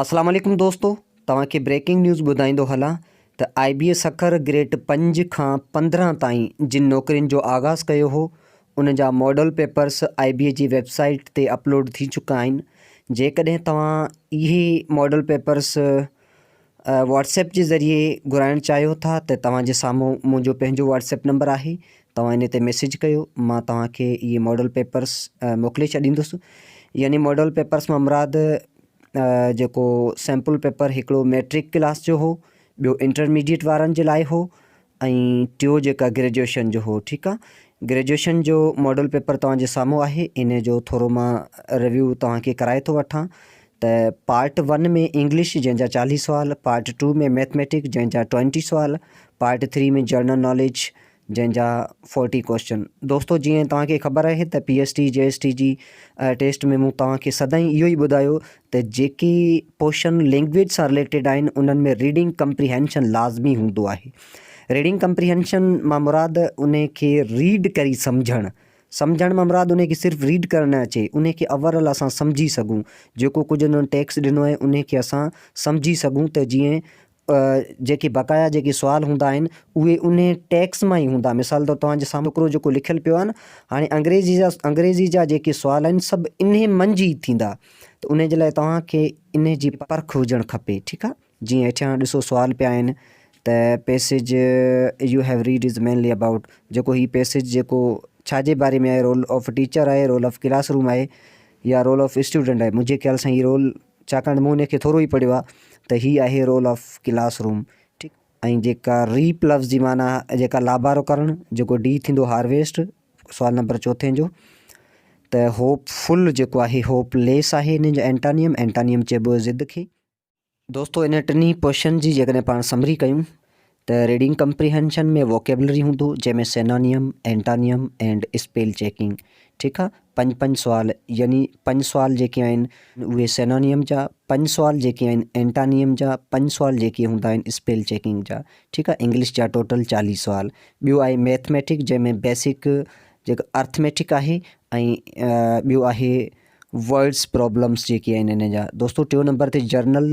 اسلام عليڪم دوستو توهان کي بريڪنگ نيوز ٻڌائيندو هلان ته آء بي اي سکر گريڊ پنج کان پندرهن تائين جن نوڪرين جو آغاز ڪيو هو ان جا model papers I B A جي ويب سائيٽ تي اپلوڊ ٿي چڪا آهن جيڪڏهن توهان اهي ماڊل پيپرس واٽس ايپ جي ذريعي گهرائڻ چاهيو ٿا ته توهان جي سامهون منهنجو پنهنجو واٽس ايپ نمبر آهي توهان انهي تي ميسيج ڪيو مان توهان کي اهي ماڊل پيپرس موڪلي ڇڏيندس يعني ماڊل پيپرس مان مراد جيڪو سيمپل پيپر هڪڙو ميٽرڪ ڪلاس جو هو ٻيو انٽرميڊيٽ وارن جي لاء هو ۽ ٽيو جيڪا گريجويشن جو هو ٺيڪ آهي گريجويشن جو ماڊل پيپر توهان جي سامهون آهي ان جو ٿورو مان ريويو توهان کي ڪرائي ٿو وٺان ته پارٽ ون ۾ انگلش جنهن جا چاليهه سوال پارٽ ٽو ۾ ميٿميٽڪ جنهن جا ٽوينٽي سوال پارٽ ٿري ۾ جنرل ناليج جنهن جا فورٽي ڪوئسچن دوستو جيئن توهان کي خبر آهي ته P S T J S T جي ٽيسٽ ۾ مون توهان کي سدائين اهو ئي ٻڌايو ته جيڪي پوشن لينگويج سان رليٽيڊ آهن انهن ۾ ريڊنگ ڪمپريهينشن لازمي هوندو آهي ريڊنگ ڪمپريهينشن مان مراد ان کي ريڊ ڪري سمجهڻ سمجهڻ مان مراد ان کي صرف ريڊ ڪرڻ نه اچي ان کي اوورل اسان سمجهي سگهون جيڪو ڪجهه انهن ٽيڪس ڏنو آهي ان کي اسان سمجهي سگهون ته جيئن جيڪي بقايا جيڪي سوال هوندا آهن اهي انهي ٽيڪس مان ئي هوندا. مثال طور توهان جي سامهون هڪڙو جيڪو لکيل پيو آهي نه هاڻي انگريزي جا انگريزي جا جيڪي سوال آهن سڀ انهي منجهه ئي ٿيندا ته انهي جي لاء توهان کي انهي جي پرک هجڻ کپي ٺيڪ آهي جيئن هيٺيان ڏسو سوال پيا آهن ته passage you have read is mainly about جيڪو هي پيسيج جيڪو ڇا جي باري ۾ آهي رول آف ٽيچر آهي رول آف ڪلاس روم آهي يا رول آف اسٽوڊنٽ آهي منهنجي خيال سان هي رول ڇاڪاڻ ته مون ان کي ٿورو ئي پڙهيو آهي ته هي آهي رول آف ڪلاس روم ٺيڪ ۽ جيڪا ريپ لفظ جي معنيٰ جيڪا لابارو ڪرڻ جيڪو ڊي ٿيندو هارويسٽ سوال نمبر چوٿين جو ته هوپ فل جيڪو آهي هوپ ليس آهي ان جو اينٽانيم اينٽانيم چئبو ضد کي دوستو ان ٽنهي ڪوشچن جي جيڪڏهن پاڻ سمري ڪيون ته ريڊنگ ڪمپريهنشن ۾ ووڪيبلري هوندو جنهن ۾ synonym, antonym and spell checking ٺيڪ آ پنج پنج سوال يعني پنج سوال جيڪي آهن اهي سينونيم جا پنج سوال جيڪي آهن اينٽانيم جا پنج سوال جيڪي هوندا آهن اسپيل چيڪنگ جا ٺيڪ آ انگلش جا ٽوٽل چاليهه سوال ٻيو آهي ميٿميٽڪ جنهن ۾ بيسڪ جيڪو ارٿميٽڪ آهي ۽ ٻيو آهي ورڊس پرابلمس جيڪي آهن هن جا دوستو ٽيون نمبر تي جرنل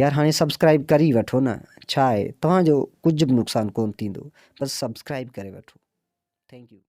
يار هاڻي سبسڪرائيب ڪري ئي وٺو نه ڇا آهي توهان جو ڪجهه به نقصان ڪونه ٿيندو بس سبسڪرائيب ڪري وٺو ٿينڪ يو.